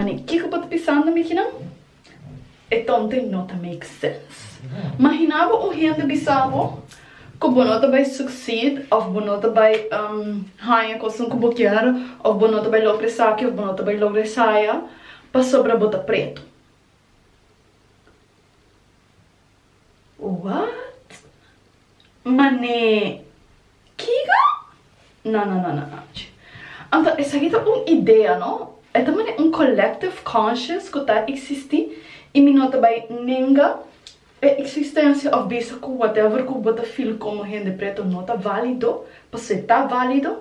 Mane, kico bo ta pisando mi kinan? E tonte no ta make sense. Mahina bo un hende bisa bo cu bo no ta bay succeed of bo no ta bay haya cosnan cu bo kier of bo no ta bay logra esaki of bo no ta bay logra esaya pasobra bo ta preto. What? Mane, kiga? Na na na na na chi. Anto esaki ta un idea no? E ta mane un collective conscious ku ta eksistí i mi no ta bai nenga e eksistensia òf bisa ku whatever ku bo ta feel komo hende preto no ta válido, pasobra ta válido,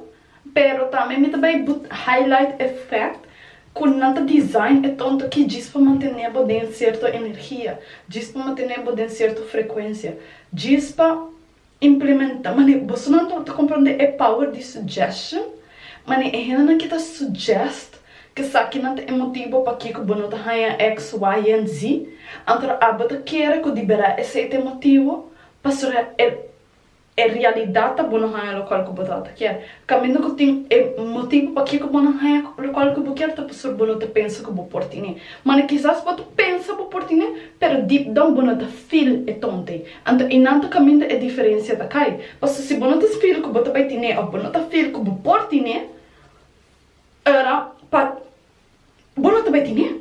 Pero tambe mi ta bai but highlight effect cu nan ta design e tonto ki djis pa mantené bo den cierto energia, djis pa mantené bo den cierto frecuencia, djis pa implementá, mane boso nan ta comprende e power di suggestion? Mane e hendenan ki ta suggest kesaki nan ta e motibo pakico bo no ta haña X, Y en Z, anto abo ta kere cu di berdad esei ta e motibo, pasobra e. E realidat ta bo no haña lokual ku bo ta ta kier. Kaminda ku tin e motibu pakiko bo no haña lokual ku bo kier ta pasur bo no ta pensa ku bo por tine. Mane, kisas bo ta pensa bo por tine, pero deep down bo no ta feel e tonte. Anto einan ta kaminda e diferensia ta kai. Paso si bo no ta feel ku bo ta bai tine òf bo no ta feel ku bo por tine, ora pa bo no ta bai tine.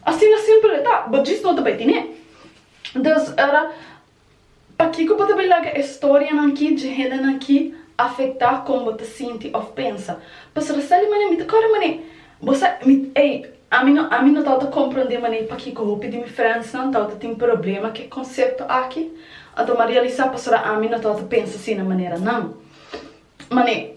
Asina simpel e ta, bo djis no ta bai tine. Dus, ora Pakiko bo ta bai laga e storianan ki dje hendenan ki afektá kon bo ta sinti òf pensa? Pasobra Sally Mané, mi ta kòrda mané bo sa, mi, ey, ami no, ami no tabata komprondé mané pakiko hopi di mi frèndsnan tabata tin problema ku e konsepto aki. Anto m'a realisá pasobra ami no tabata pensa asina maneranan. Mané.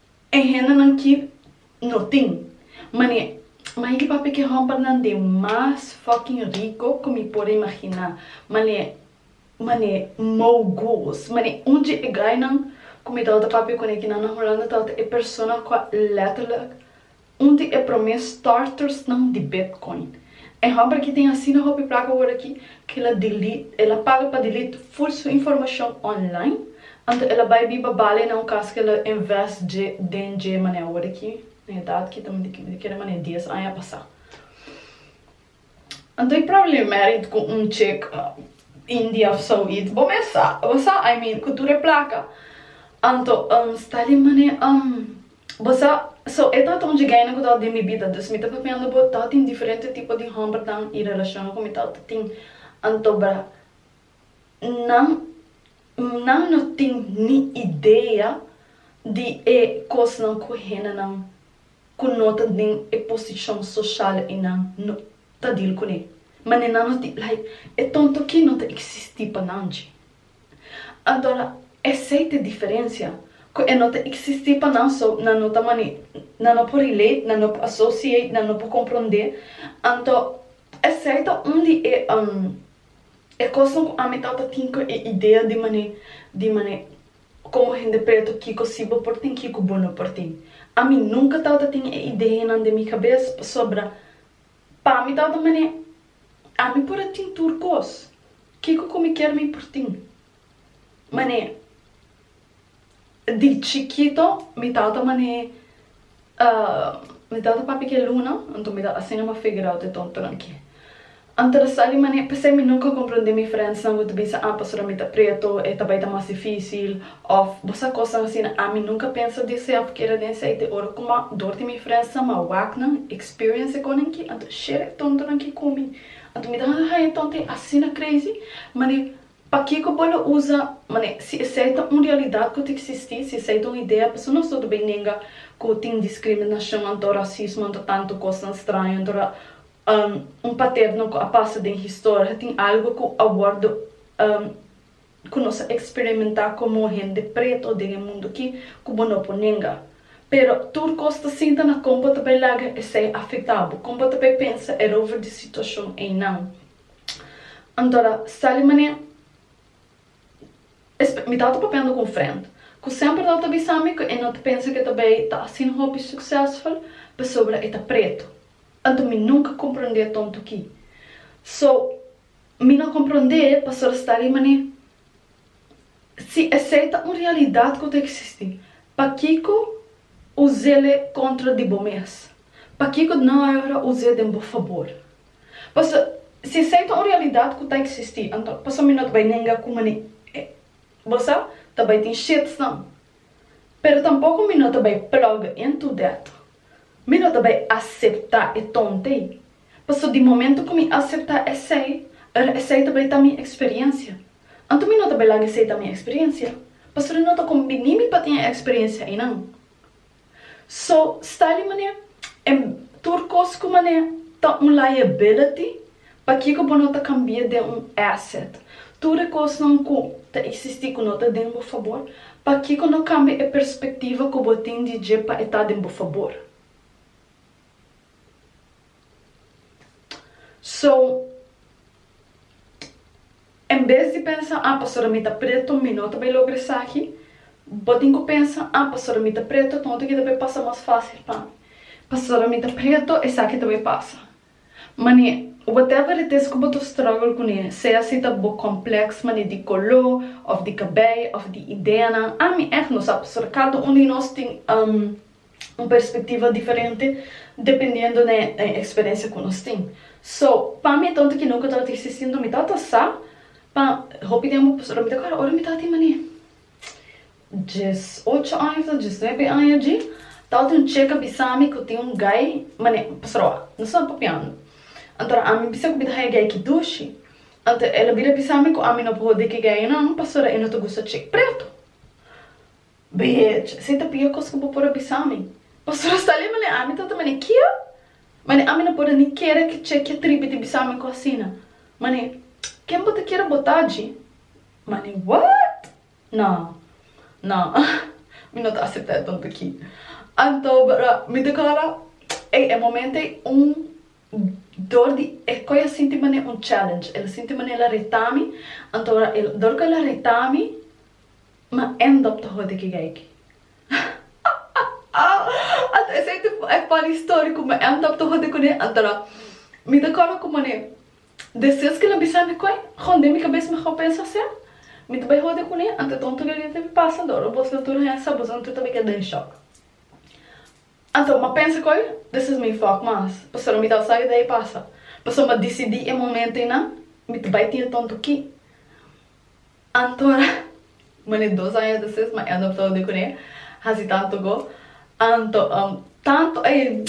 E hendenan ki no tin. Mane, mai di papia ki hòmpernan den mas fucking rico ku mi por a imaginá. Mane, mane, moguls. Mane, un dje e gainan ku mi tabata papia kuné ki nan na Hulanda tabata e persona ku a letterlijk Un di e promé startersnan di Bitcoin. E hòmber ki tin asina hopi plaka wòrdu aki ku el a delete, el a paga pa delete full su informashon online, anto el a bai biba bali na un kas ku el a invest dje den dje manera wòrdu aki, na edat ki ta mindi kende kere manera dies aña pasá. Anto e problemerit cu un chick India of zoiets bo mes sa bo sa I mean cu tur e placa anto um Stalin mane um bo sa so e ta ton djigaina cu ta den mi bida dus mi ta papiando bo ta tin diferente tipo di hombernan y relacion cu mi ta tin anto bra. nan, nan no tin ni idea di e kosnan ku hendenan ku no ta den e posishon soshal einan no ta dil kuné. Manera nan no tin, like, e tonto ki no ta eksistí pa nan dje. Antora, esei ta e diferensia, ku e no ta eksistí pa nan, so nan no ta mane, nan no por relate, nan no por associate, nan no por komprondé. Anto, esei ta un di e, um, E kosnan ku ami tabatin ku e idea di manera, di manera, komo hende preto kiko si bo por tin, kiko bo no por tin. Ami nunka tabata tin e ideanan den mi kabes, pasobra pa mi tabata manera, ami por a tin tur kos, kiko ku mi kier mi por tin. Manera. Di chikito mi tata mane mi tata papia ke luna anto mi ta asina ma figure out e tontonan ki anto ta sa di mane p'esei mi nunka komprondé mi friends nan ku ta bisa ah pasobra mi ta preto e ta bai ta mas difisil of bo sa kosnan asina ami nunka pensa di esei of keda den esei te ora ku ma dor di mi friends nan ma wak nan experience e konan ki anto share e tontonan ki ku mi anto mi ta haña haña tonto e asina crazy mane Pakico bo lo usa mane? Si esey ta un realidad cu ta existi, si esey ta un idea, paso nos no ta bay nenga cu tin discriminacion anto racismo anto tanto cosnan straño anto ta un paterno cu a pasa den historia ta tin algo cu a wordo cu nos a experimenta como hende preto den e mundo aki cu bo no por nenga. Pero tur cos ta sinta na con bo ta bay laga esey afecta bo, con bo ta bay pensa erover di situacion eynan. Antora, Sally Mané, es mi tata papiando con Frent, cu semper lo ta bisa mi cu e no ta pensa cu e ta bay ta asina hopi succesful pasobra e ta preto. Anto mi nunca comprende e tonto ki. So, mi no comprende pastora Sally Mané, si esey ta un realidad cu ta existi, pakico u zele contra di bo mes? Pakico dna ora u ze den bo fabor? Paso, si esei ta un realidat ku ta eksistí, anto paso mi no ta bai nenga ku mane e bosa ta bai tin shitstorm. Pero tampoko mi no ta bai plug into that. Mi no ta bai aseptá e tont'ei, paso di momento ku mi aseptá esei, er esei ta bai ta mi eksperensia. Anto mi no ta bai laga esei ta mi eksperensia, paso mi no ta kombiní mi pa tin e eksperensia einan. So, sta li manera, en tur kos ku manera ta un liability, pakiko bo no ta kambia den un asset? Tur e kosnan ku ta eksistí ku no ta den bo fabor, pakiko no kambia e perspektiva ku bo tin di dje pa e ta den bo fabor? So, en bes di pensa, ah, pastor mi ta preto, mi no ta bay logra esaki, bo tin cu pensa, ah, pastor mi ta preto, enton hopi ki ta bay pasa mas facil pa mi. Pastor mi ta preto, esaki ta bay pasa. Mane, whatever it is cu bo ta struggle cu ne, sea si ta bo complex mane di colo, of di cabey, of di ideanan, ah, mi echt no sa, pastor, cada un di nos tin, um. un perspectiva diferente dependiendo den e experiencia cu nos tin. So, pa mi tanto ki nunca tabata existiendo mi tata sa pa hopi tempo pasobra mi ta acuerda ora mi tata tin mane dies ocho aña of ta dies nuebe aña dji tabata un cheka bisa mi cu tin un gai mane pasobra wak nos taba papiando anto a mi bisa cu mi ta haya gai ki dushi anto el a bira bisa mi cu ami no por hode ki gainan pasobra e no ta gusta chek preto. Beh, si ta pia cos cu bo por a bisa mi. Pastor Astalia, Mane, ami ta ta mane kia? Mane, ami no por a ni kere ki che kia tribi di bisa mi cu asina. Mane, Ken bo ta kier a bota dji? Mane, What? No, no, mi no ta acepta e tonto aki. Anto, bra, mi ta cora, ey, e momento ey un dor di e coi a sinti mane un challenge. El a sinti mane el a reta mi, anto bra, el, dor cu el a reta mi, Ma end up ta hode ki geiky. Ata esei ta e funny story ku mi end up ta hode kune antora mi ta kòrda ku mane de ses ke lo bisa mi koe hon den mi kabes mi hò pensa se mi ta bai hode kune ante tonto gei ta bin pasa dor obos nan tur haya sa bosan tur ta bin keda den shock anto mi a pensa koe de ses mi fòk mas pasobra mi tabata sa ke dei pasa pasobra mi a disidi e momento einan mi ta bai tin e tonto ki. Antora Mane dos aña despues ma e adoptao di kuné hasi tanto go anto um tanto ey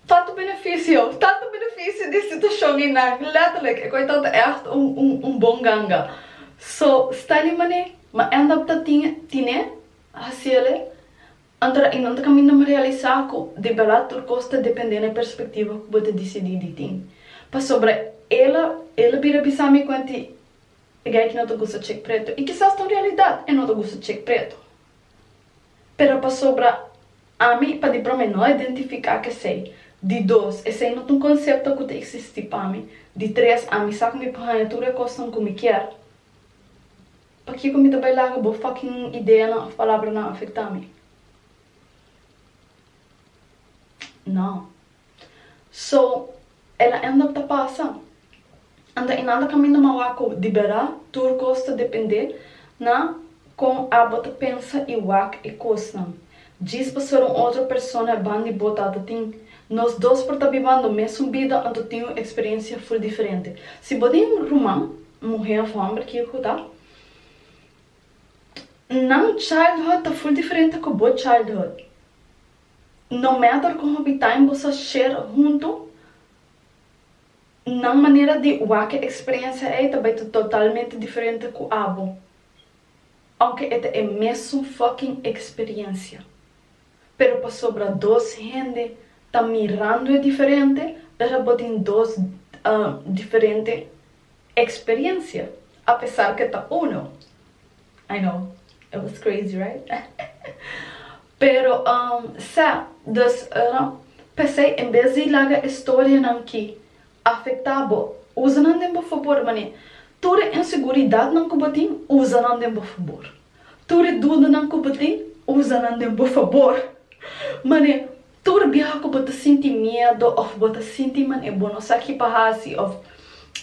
tanto beneficio tanto beneficio di situashon ei nan letterlijk e koe tanto echt un un un bon ganga so Stanley Mane ma e adopta tin tiné hasi ele antora i nan ta kaminda ma realisa ku di berdad tur kos ta depende na e perspektivo ku bo ta disidi di tin pasobra ela ela bira bisa mi kuen ti P'esei ki no ta gusta chek preto. I kisas ta un realidat, e no ta gusta chek preto. Pero pasobra ami, pa di prome, no a identifiká k'esei. Di dos, esei no ta un konsepto ku ta eksistí pa mi. Di tres, ami sa ku mi por haña tur e kosnan ku mi kier. Pakiko mi ta bai laga bo fòkin ideanan òf palabranan afektá mi? Nò. So el a end up ta pasa. Anto y nan ta caminda mawa cu dibera tur cos ta depende na con a bo ta pensa y wak e cosnan. Djis pa ser un otro persona e ban di bo tata tin. Nos dos por ta bibando mesun bida anto tin un experiencia full diferente. Si bo tin ruman, muhe of homber kico cu ta, nan childhood ta full diferente cu bo childhood. No mester con hopitain bo sa sher hunto nan manera di wake experiencia ey ta bay ta totalmente diferente cu abo, aunke e ta e mesun fucking experiencia. Pero pasobra dos hende ta mirando e diferente ora bo tin dos diferente Experiencia, a pesar ke ta uno. I know, it was crazy right? Pero um sa, dus ora p'esei en bes di laga e storianan ki afektá bo, usa nan den bo fabor, man'e tur e inseguridatnan ku bo tin, usa nan den bo fabor. Tur e dudanan ku bo tin, usa nan den bo fabor, man'e. Tur biaha ku bo ta sinti miedu òf bo ta sinti man e bo no sa kipa hasi òf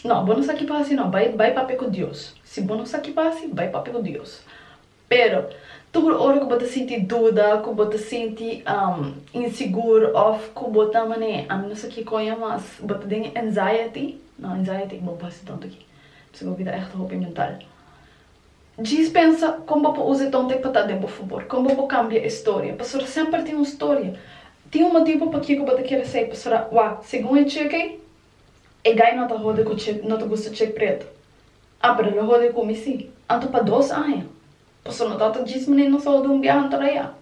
no bo no sa kipa hasi no bai bai papia ku Dios si bo no sa kipa hasi bai papia ku Dios pero tur ora ku bo ta sinti duda ku bo ta sinti insigur òf ku bo ta man'e ami no sa kiko ya mas bo ta den anxiety no anxiety bo no por hasi tonto aki mi ta sigur ku ta ègt hopi mental. Djis pensa kon bo por usa e tonte pa ta den bo fabor, kon bo por kambia e storia, pasobra semper tin un storia, tin un motibu pakiko bo ta kere esei, pasobra wak, segun e chek ei, e gai no ta hode ku chek, no ta gusta chek pretu, a pero lo hode ku mi si, anto pa dos aña, pasobra no tabata djis manera nos a hode un biaha anto raya,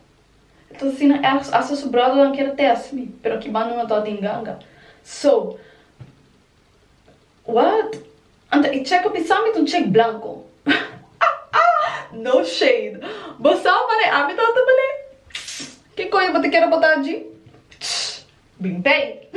enton asina ergens asta su brothernan kere test mi, pero aki banda no tabata tin ganga, so. What? Anta e check up i samit un check blanco? No shade. Bo sa man e ábito a ta bal'é? Ki koe bo ta kere botá dji? Bin pei.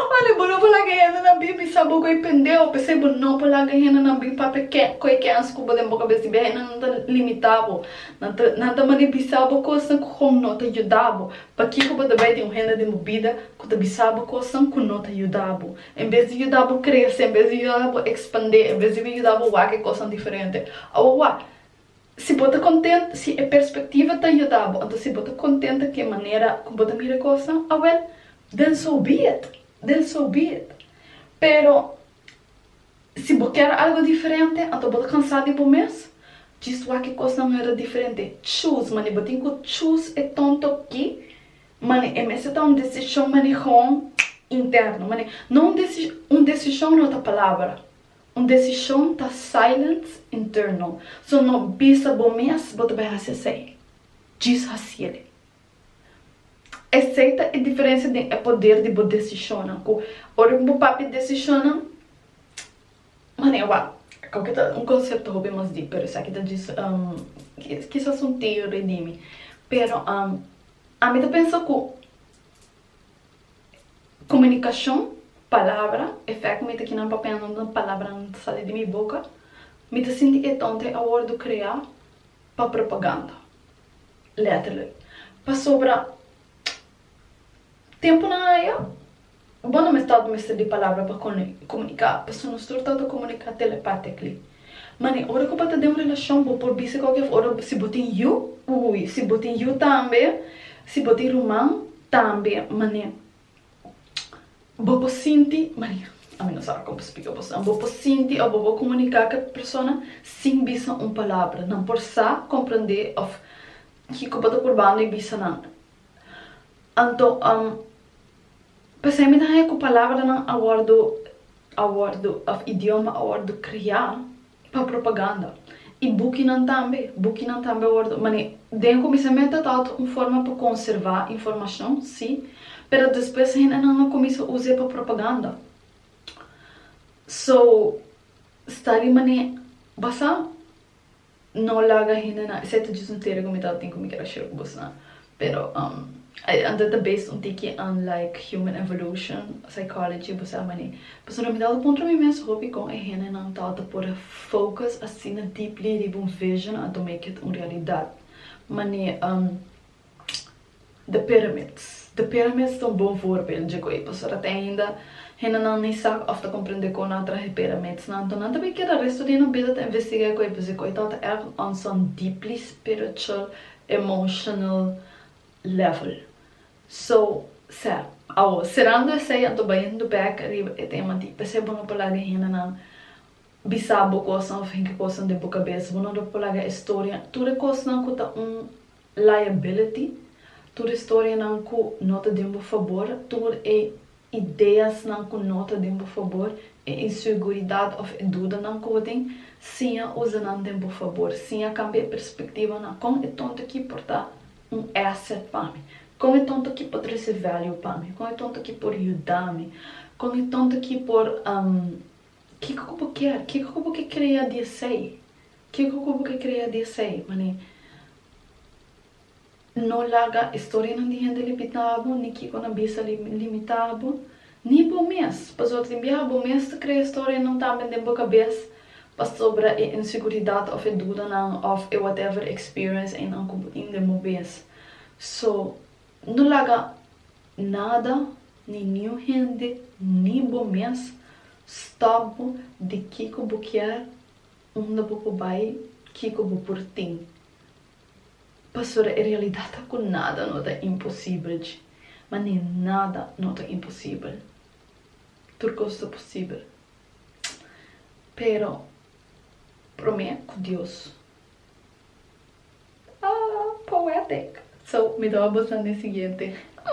Mane, bo no por laga hendenan bin bisa bo ku e pendeo, p'esei bo no por laga hendenan bin papia ke koe kèns ku bo den boka bes di biaha. Hendenan ta limitá bo. Nan ta mane bisa bo kosnan ku kon no ta yuda bo. Pakico bo ta bay den un hende den bo bida cu ta bisa bo cosnan cu no ta yuda bo? En bes di yuda bo crece, en bes di yuda bo expande, en bes di yuda bo wak e cosnan diferente. Awa wak, si bo ta content, si e perspectiva ta yuda bo, anto si bo ta content ta cu e manera cu bo ta mira e cosnan, awel, then so be it, then so be it. Pero. Si bo ker algo diferente, anto bo ta kansa di bo mes. Djis wak e kosnan mester ta diferente. Choose, mane bo tin ku choose e ton tokki, mane e mester ta un desishon mane hon interno. Mane no un desi, un desishon no ta palabra, un desishon ta silence internal. So no bisa bo mes bo ta bai hasi esei, djis hasiel. Esei ta e diferensia den e poder di bo desishonnan ku ora ku bo papia desishonnan manera wak a kau ke ta un konsepto hopi mas dip pero esaki ta djis kisas un teori di mi pero ami ta pensa ku komunikashon palabra e fèk ku mi ta kina papia nunde palabra no ta sali di mi boka mi ta sinti ke e tonta e a wordu krea pa propaganda letterlijk. Pasobra temponan aya bo no mester mester di palabra pa comunica, paso nos tur ta ta comunica telepatically. Mane ora cu bo ta den un relacion bo por bisa cualkier cosa, ora si bo tin yu, uy, si bo tin yu tambe, si bo tin ruman tambe, mane Bo por sinti, Maria, ami no sabi kon pa splica bo sa, bo por sinti of bo por comunica cu e persona sin bisa un palabra. Nan por sa, comprende of kico bo ta purbando y bisa nan. Anto, am, p'esei mi ta haña cu palabranan a wordo, a wordo, of idioma a wordo crea, pa propaganda y bukinan tambe, bukinan tambe a wordo mane den comisamento ta otro un forma pa conserva informacion si pero despues hendenan a comisa uze pa propaganda so sta di mane basa no laga hendenan escepto djis un teren cu mi tabatin cu mi keda share cu bosonan Pero ai anto ta based un tiki unlike human evolution, psychology, bo sa mani. Pasobra mi tabata puntra mi mes hopi kon e hendenan tabata por focus asina deeply riba un vision anto make it un realidad. Mani, the pyramids. The pyramids ta un bon voorbeeld dje koe, pasobra te ainda hendenan ni sa of ta comprende kon nan traha e pyramidsnan. Anto nan ta bin keda resto di nan bida ta investig'é koe, pues e koe tabata erg on son deeply spiritual emotional level so sè awor serando esei anto bayendo back riba e tema di p'esei bo no por laga e hendenan bisa bo cosnan of henter cosnan den bo cabeza bo no lo por laga historia tur e cosnan cu ta un liability tur e historianan cu no ta den bo fabor tur e ideasnan ku no ta den bo fabor, e inseguridat òf e dudanan ku bo tin, siña usa nan den bo fabor. Siña kambia e perspektiva na kon e tonto akí por ta un asset pa mi, kon e tonto akí por trese value pa mi, kon e tonto akí por yuda mi, kon e tonto akí por Kiko ku bo kier? Kiko ku bo ke krea di esei? Kiko ku bo ke krea di esei? Mane. No laga e storianan di hende limitabo, ni kiko nan bisa limitabo, ni bo mes, pasobra bia bo mes ta krea e storianan tambe den bo kabes pasobra e inseguridat of e dudanan of e whatever experience eynan ku bo tin den bo mes. So, no laga nada ni niun hende, ni bo mes, stop bo di kiko bo kier, unda bo por bai, kiko bo por tin. Pasobra e realidat ta ku nada no ta imposibel dje, ma ni nada no ta imposibel. Tur kos ta posibel. Pero promé ku Dios ta poetic. So mi ta wak boso na e siguiente.